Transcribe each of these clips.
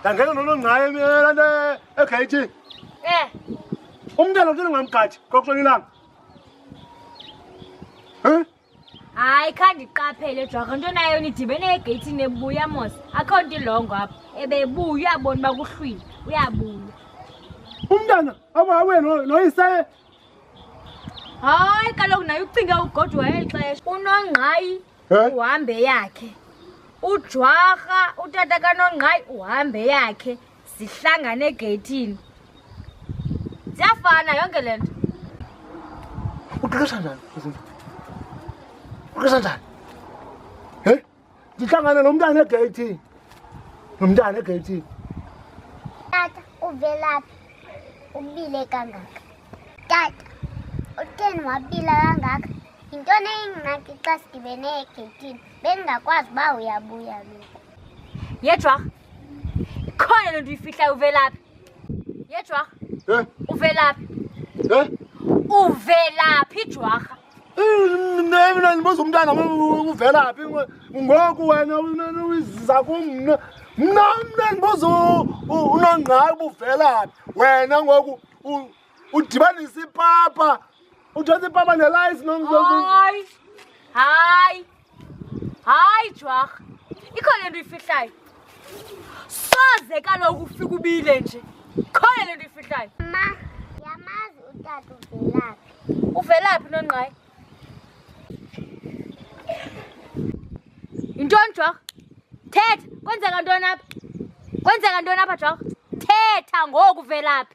ndangena nono ngaye la nto egeyithini um umntana utini ngamgadi kokuhlona ilanga um hayi khandiqaphele jwaka nto nayo nidibene egeyithini ebuya mos akho nto ilongo apha ebebuya uyabona uba kuhlwile uyabuya umntana abawe noyisaye hayi kaloku naye ucinga ugodwa eli xesha unongqayi Eh? uhambe yakhe ujwarha utata kanongqayi uhambe yakhe zihlangane egeyithini ziyafana yonke le nto uqeqesha njani uqeqesha njani he ndihlangane nomntana egeyithini nomntana egeyithini tata uvelaphi ubile kangaka tata utheni wabila kangaka Yintoni eyingxaki xa sidibene egeyitini bendingakwazi uba uyabuya lo? Yedwa. Ikhona lento uyifihlayo uvelaphi? Yedwa. Eh? Uvelaphi? Eh? Uvelaphi jwarha? Mina ndibuza umntana uvelaphi ngoku wena uyiziza kum mna. Mna mna ndibuza unongqayi ubuvelaphi wena ngoku udibanise ipapa udibanise ipapa nelayisi hayi hayi hayi jwarha ikhona le nto uyifihlayo soze kaloku ufika ubile nje khona le nto uyifihlayo ma yamazi utata uvelaphi uvelaphi nongqayi yintoni jwarha thetha kwenzeka ntoni apha kwenzeka ntoni apha jwarha thetha ngoku uvelaphi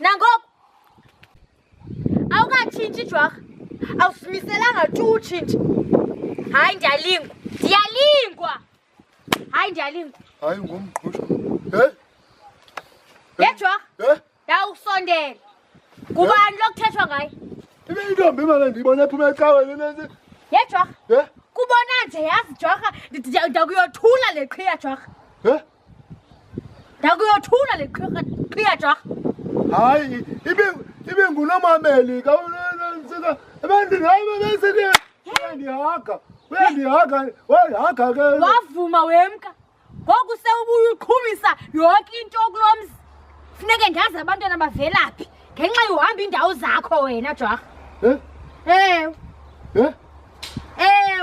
nangoku awukatshintshi jwarha awusimiselanga tu utshintshi hayi ndiyalingwa ndiyalingwa hayi ndiyalingwa hayi ngumqhusho hey yejwarha hey ndawukusondela ngubani lokuthethwa ngaye ibe intombi imana ndiyibona ephuma ecaweni nesi yejwarha hey kubona nje yazi jwarha ndakuyothula le qhiya jwarha hey ndakuyothuna le qhiya jorha hayi ibe ibe ngunomameli ka nsika ebantwini hayi bebesike uyandihaga uyandihaga uyandihaga ke wavuma wemka ngoku sewubuye uqhumisa yonke into kulo mzi funeke ndazi abantwana bavelaphi ngenxa yohamba iindawo zakho wena jorha Eh? ewe Eh? Eh?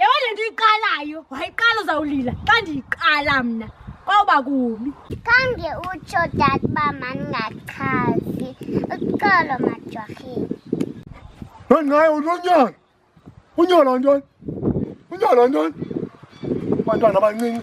Yabona le nto uyiqalayo, wayiqala uzawulila xa ndiyiqala mna kwawuba kubi. Khange utsho dad uba mandingachazi uxolo majwarheni. Nonqaye unonyana unyolo ntoni unyolo ntoni abantwana abancinci